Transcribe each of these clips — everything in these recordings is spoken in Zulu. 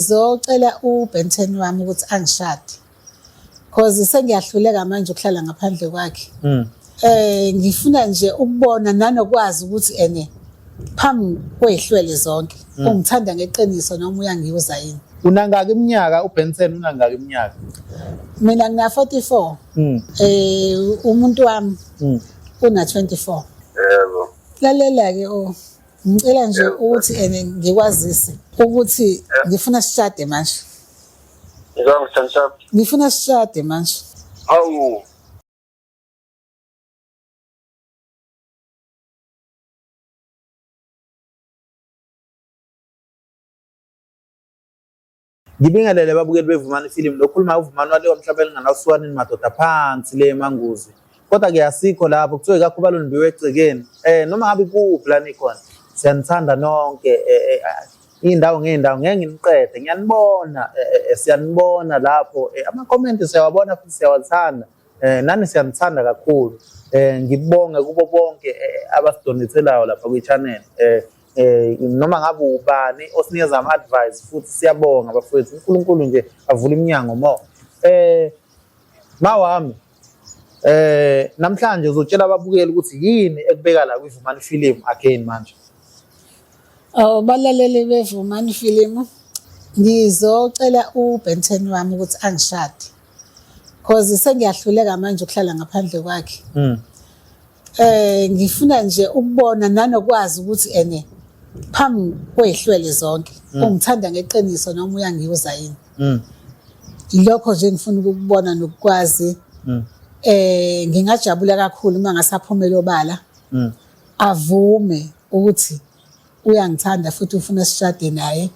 Ngizocela uBenten wami ukuthi angishade. Cause sengiyahluleka manje ukuhlala ngaphandle kwakhe. Mm. Eh ngifuna nje ukubona nanokwazi ukuthi ene phambi kwehlwele zonke mm. ungithanda ngeqiniso noma uyangiuza yini. Unangaki iminyaka uBenson unangaki iminyaka? Mina ngina 44. Mm. Eh umuntu wami mm. una 24. Yebo. Lalela ke o oh. Ngicela nje ukuthi ene ngikwazise ukuthi ngifuna sishade manje. Ngizwa ngithandisa. Ngifuna sishade manje. Hawu. Ngibingelele ababukeli bevumani ifilimu lokhuluma uvumani wale wamhlaba elinganawusuwanini madoda phansi le emanguzi kodwa ke asikho lapho kuthiwe kakho balundiwe egcekeni um noma ngabe kuphi la nikhona siyanithanda nonke eh, eh, ah, iy'ndawo ngey'ndawo ngeke nginiqede ngiyanibona eh, siyanibona lapho amakhomenti siyawabona futhi siyawathanda um nani siyanithanda kakhulu um ngibonge kubo bonke abasidonethelayo lapha kwi-channel um eh noma ngabe ubani osinikeza ama advice futhi siyabonga bafowethu uNkulunkulu nje avule iminyango mo eh mawami eh namhlanje uzotshela ababukeli ukuthi yini ekubeka la kwivumani film again manje Oh balaleli bevumani film ngizocela uBenten wami ukuthi angishade cause sengiyahluleka manje ukuhlala ngaphandle kwakhe mm. Eh ngifuna nje ukubona nanokwazi ukuthi ene phambi kwehlwele zonke mm. ungithanda ngeqiniso noma uyangiuza yini. Mm. Ilokho nje ngifuna ukukubona nokukwazi. Mm. Eh ngingajabula kakhulu uma ngasaphumela obala. Mm. Avume ukuthi uyangithanda futhi ufuna sishade naye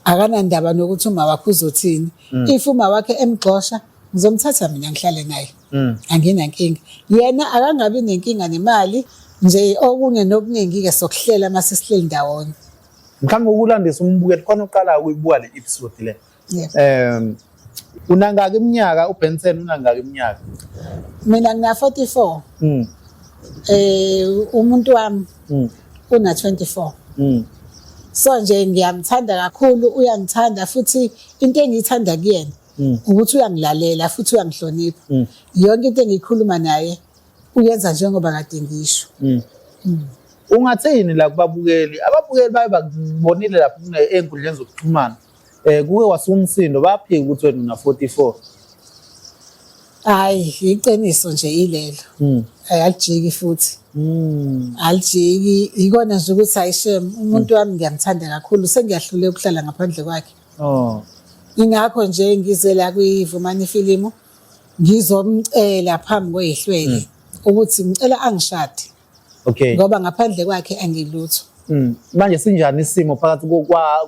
akanandaba nokuthi uma wakhe uzothini mm. if uma wakhe emgxosha ngizomthatha mina ngihlale naye mm. anginankinga yena akangabi nenkinga nemali nje okunye nokuningi-ke sokuhlela uma sesihleli ndawonye mhlawumbe ukulandisa umbukeli khona uqalayo ukuyibuka le episode le Yes. Um unangaki iminyaka uBenson unangaki iminyaka? Mina ngina 44. Mm. Eh umuntu wami mm. una 24. Mm. So nje ngiyamthanda kakhulu uyangithanda futhi into engiyithanda kuyena mm. ukuthi uyangilalela futhi uyangihlonipha. Mm. Yonke into engikhuluma naye uyenza njengoba kade ngisho. Mm. Mm. Ungathini la kubabukeli? Ababukeli baye bakubonile lapho enkundleni zokuxhumana. Eh kuke wasumsindo baphika ukuthi wena una 44. Hayi iqiniso nje ilelo. Mm. Ayajiki futhi. Mm. Alijiki ikona nje ukuthi ayishem umuntu wami ngiyamthanda kakhulu sengiyahlule ukuhlala ngaphandle kwakhe. Oh. Ingakho nje ngize la kuyivumani ifilimu ngizomcela phambi kwehlwele hmm. ukuthi ngicela angishade. okay ngoba ngaphandle kwakhe angilutho mm. manje sinjani isimo phakathi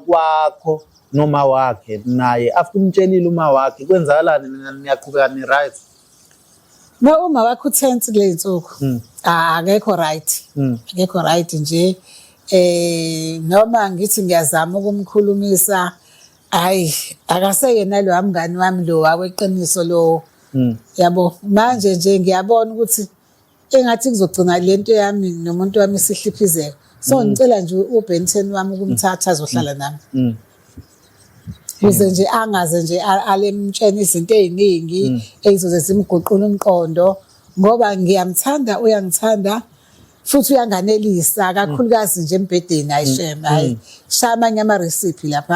kwakho noma wakhe naye after umtshelile uma wakhe kwenzakalani niyaqhubeka ni right no uma wakhe uthense kule nsuku mm. ah, akekho right mm. akekho right nje eh noma ngithi ngiyazama ukumkhulumisa hayi akaseyena lo amngani wami lo waweqiniso lo hmm. yabo manje nje ngiyabona ukuthi engathi kuzogcina le nto yami nomuntu wami sihliphizeka so mm. ngicela nje ubenton wami ukumthatha azohlala mm. nami mm. kuze nje angaze nje alemtshena izinto ey'ningi ey'zoze zimguqula umqondo ngoba ngiyamthanda uyangithanda futhi uyanganelisa kakhulukazi nje embhedeni ayishema hayi shaya amanye ama-recipe lapha